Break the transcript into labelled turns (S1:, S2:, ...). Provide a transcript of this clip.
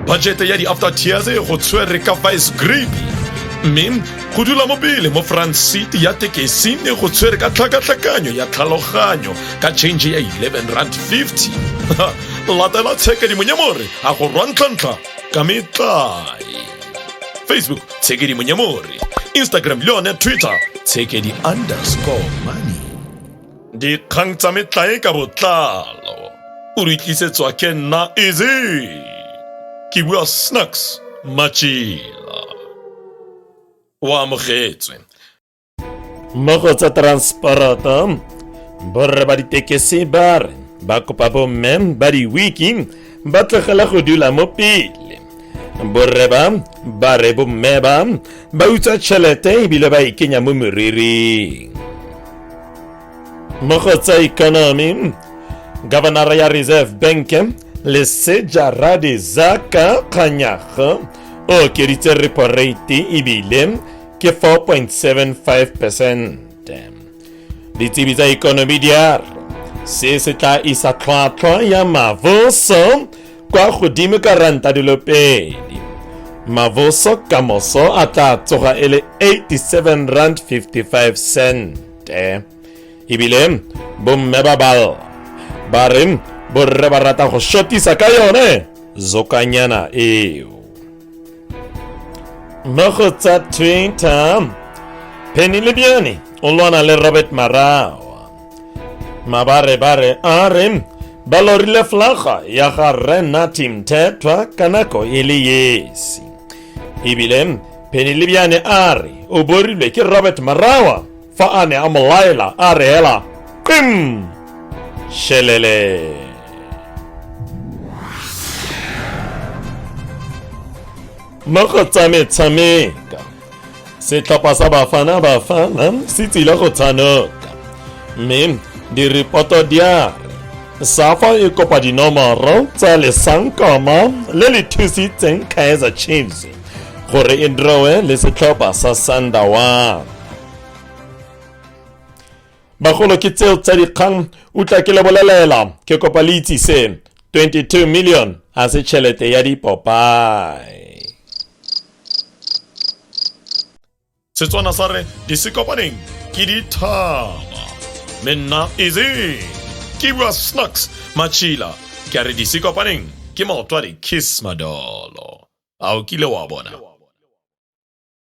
S1: bajete ya di-after tears go tshwere ka vice grip mme go dula mo pele mo front seat ya tekesi ne go tshwere ka tlhakatlhakanyo ya tlhaloganyo ka change ya 11 rand 50 latela tshekadimonyamore a go rwantlhantlha ka metlae facebook tshekadimonyamore instagram le yone twitter tshekedi underscore money dikgang tsa metlae ka botlalo o re tlisetswa ke nna eze ke bua snacks machila o amogetswe mmogo
S2: tsa transporta borre ba ditekesi ba re ba kopa bomme ba di-wiki ba tlogela go dula mo pele borre ba ba re bomme ba ba utsa tšhelete ebile ba e kenya mo moriring mo go tsa economy governor ya reserve bank leseja radizaka kganyago o okeditse repo rate ebile ke 4.75 percent ditsebi tsa economy di a re se se tla isa tlhwatlhwa ya maboso kwa godimo ka ranta dilo pedi maboso ka moso a tla tsoga e le 87 rand 55 cente ebile bomme ba bal ba re borre ba rata go shotisa ka yone zokanyana eo mo go tsa twitter penny lebiane o lwana le robert marao mabare bare a re ba lorile flaga ya ga rre nati mthethwa ka nako e le esi ebile phenelebiane a re o borilwe ke robert marawa fa a ne a mo laela a re hela qim shelele mo go tsa metshameko setlhopha sa bafana bafana se tsile go tshanoka mme diripoto di a re safa e kopa dinomoro tsa lesankoma le le thusitseng kaizer chiefs gore e drowe le setlhopha sa sundown bagolo ke tseo tsa dikgang utla ke le bolelela ke kopa le itsise 22 million a se tšhelete ya dipopae
S1: setswana sa re di se kopaneng ke dithaba le nna eze ke bua snacks matšhila ke a re di se kopaneng ke maotwadi kiss madolo a o kile wa bona